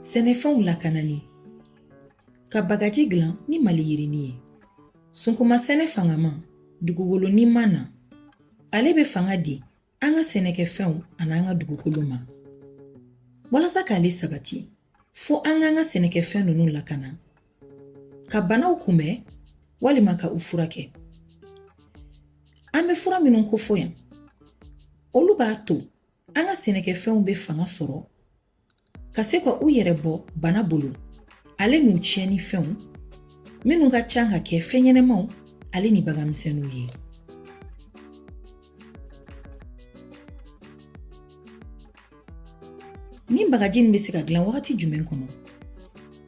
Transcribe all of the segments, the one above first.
sɛnɛfɛnw lakanani ka bagaji dilan ni maliyirini ye sunkuma sɛnɛ fangama dugukolo niman na ale bɛ fanga di an ka sɛnɛkɛfɛnw ani an ka dugukolo ma walasa k'ale sabati fo an k'an ka sɛnɛkɛfɛn ninnu lakana ka banaw kunbɛn walima ka u furakɛ an bɛ fura minnu kofɔ yan olu b'a to an ka sɛnɛkɛfɛnw bɛ fanga sɔrɔ ka se ka u yɛrɛ bɔ bana bolo ale n'u tiɲɛni fɛnw minnu ka ca ka kɛ fɛn ɲɛnamaw ale ni baganmisɛnninw ye nin bagaji nin bɛ se ka dilan wagati jumɛn kɔnɔ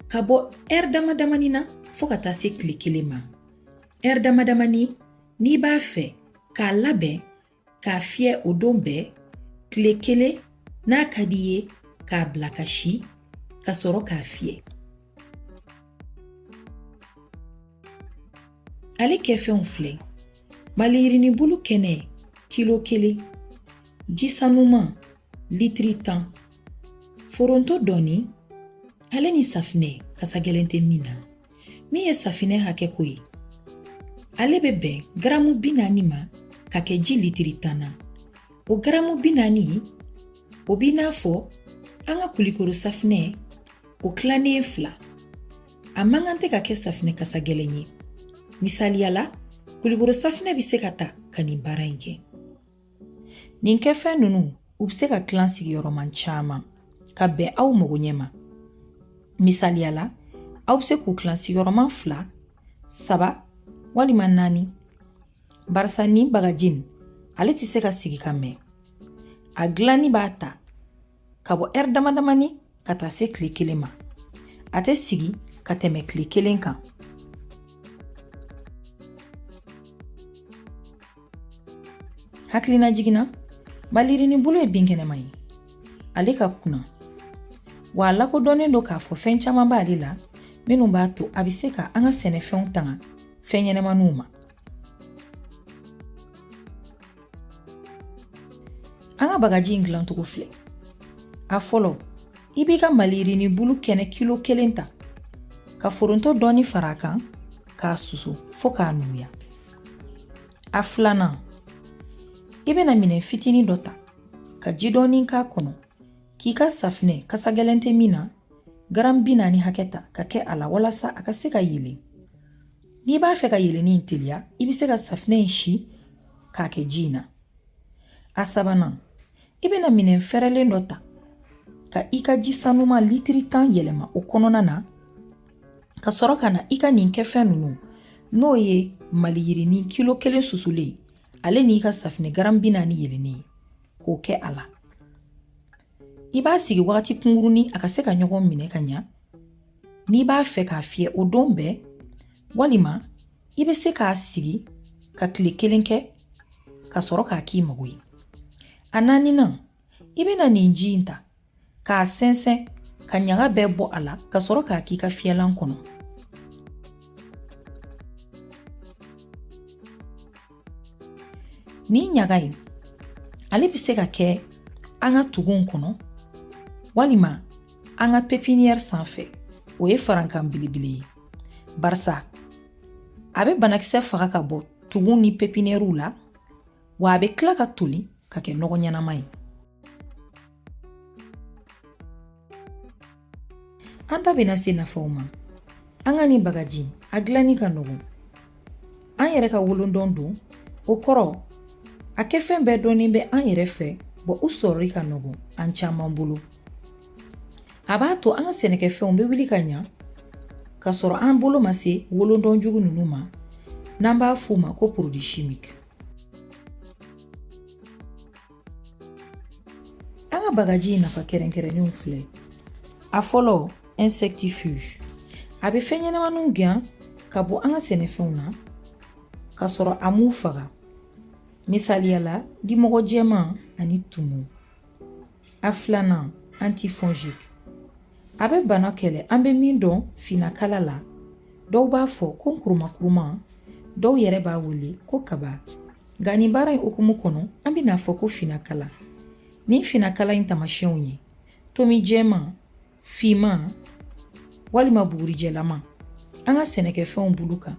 ka bɔ ɛri damadamani na fo ka taa se tile kelen ma ɛri damadamani n'i b'a fɛ k'a labɛn k'a fiyɛ o don bɛɛ tile kelen n'a ka di i ye k'a bila ka si ka sɔrɔ k'a fiyɛ ale kɛfɛnw filɛ maliyirinibulu kɛnɛ kilo kelen ji sanuman litiri tan foronto dɔɔni ale ni safinɛ kasa gɛlɛn tɛ min na min ye safinɛ hakɛ ko ye ale bɛ bɛn garamu bi naani ma ka kɛ ji litiri tan na o garamu bi naani o b'i n'a fɔ an ka kulikoro safinɛ o tilannen ye fila a man kan tɛ ka kɛ safinɛ kasa gɛlɛn ye misaliya la kulikoro safinɛ bɛ se ka ta ka nin baara in kɛ Nin kɛfɛn ninnu u bɛ se ka tilan sigiyɔrɔman caman ka bɛn aw mago ɲɛ ma misaliya la aw bɛ se k'u tilan sigiyɔrɔman fila saba walima naani barisa nin bagaji ale tɛ se ka sigi ka mɛn a dilanni b'a ta ka bɔ ɛri damadamani ka taa se tile kelen ma a tɛ sigi ka tɛmɛ tile kelen kan hakilinajigin na maliyirini bulu ye binkɛnɛma ye ale ka kuna wa a lakodɔnnen don k'a fɔ fɛn caman b'ale la minnu b'a to a bɛ se ka an ka sɛnɛfɛnw tanga fɛn ɲɛnamaniw ma An ka bagaji in dilancogo filɛ a fɔlɔ i b'i ka maliyirini bulu kɛnɛ kilo kelen ta ka foronto dɔɔni fara a kan k'a susu fo k'a nuguya a filanan i bɛna minɛn fitinin dɔ ta ka ji dɔɔni k'a kɔnɔ k'i ka safinɛ kasa gɛlɛn tɛ min na garan bi naani hakɛ ta ka kɛ a la walasa a ka se ka yeelen N'i b'a fɛ ka yeelenni in teliya i bɛ se ka safinɛ in si k'a kɛ ji in na a sabanan i bɛna minɛn fɛrɛlen dɔ ta ka i ka ji sanuman litiri tan yɛlɛma o kɔnɔna na ka sɔrɔ ka na i ka nin kɛfɛn ninnu n'o ye maliyirini kilo kelen susulen ye ale n'i ka safinɛ garan bi naani yeelennen ye k'o kɛ a la i b'a sigi wagati kunkurunin a ka se ka ɲɔgɔn minɛ ka ɲa n'i b'a fɛ k'a fiyɛ o don bɛɛ walima i bɛ se k'a sigi ka tile kelen kɛ ka sɔrɔ k'a k'i mago ye a naaninan i bɛna nin ji in ta k'a sɛnsɛn ka ɲaga bɛɛ bɔ a la ka sɔrɔ k'a k'i ka fiyɛlan kɔnɔ Nin ɲaga in ale bɛ se ka kɛ an ka tuguw kɔnɔ walima an ka pepiniyɛri sanfɛ o ye farankan belebele ye barisa a bɛ banakisɛ faga ka bɔ tuguw ni pepiniyɛriw la wa a bɛ tila ka toli ka kɛ nɔgɔ ɲɛnama ye An da bɛna se nafaw ma an ka nin bagaji a dilanni ka nɔgɔn an yɛrɛ ka wolodɔn don o kɔrɔ a kɛfɛn bɛɛ dɔnnen bɛ an yɛrɛ fɛ bɔ u sɔrɔli ka nɔgɔn an caman bolo a b'a to an ka sɛnɛkɛfɛnw bɛ wuli ka ɲa k'a sɔrɔ an bolo ma se wolodɔn jugu ninnu ma n'an b'a f'u ma ko produit chimique An ka bagaji in nafa kɛrɛnkɛrɛnnenw filɛ a fɔlɔ insectifuge a bɛ fɛnɲɛnamaniw gɛn ka bɔ an ka sɛnɛfɛnw na k'a sɔrɔ a m'u faga misaliya la dimɔgɔ jɛman ani tumu a filanan antifongique a bɛ bana kɛlɛ an bɛ min dɔn finakala la dɔw b'a fɔ ko kurumakuruma dɔw yɛrɛ b'a wele ko kaba nka nin baara in hukumu kɔnɔ an bɛn'a fɔ ko finakala nin finakala in tamasiyɛnw ye tomi jɛman finman walima bugurijɛlama an ka sɛnɛkɛfɛnw bulu kan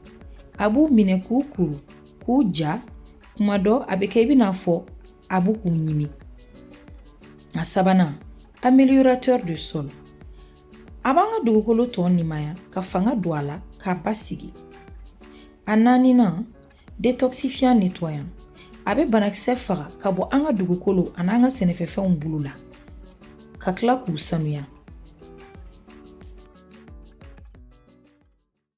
a b'u minɛ k'u kuru k'u ja kuma dɔ a bɛ kɛ i bɛn'a fɔ a bɛ k'u ɲimi a sabanan améliorateur de sol a b'an ka dugukolo tɔɔ nimaya ka fanga don a la k'a basigi a naaninan détoxifiant nettoyant a bɛ banakisɛ faga ka bɔ an ka dugukolo ani an ka sɛnɛkɛfɛnw bulu la ka tila k'u sanuya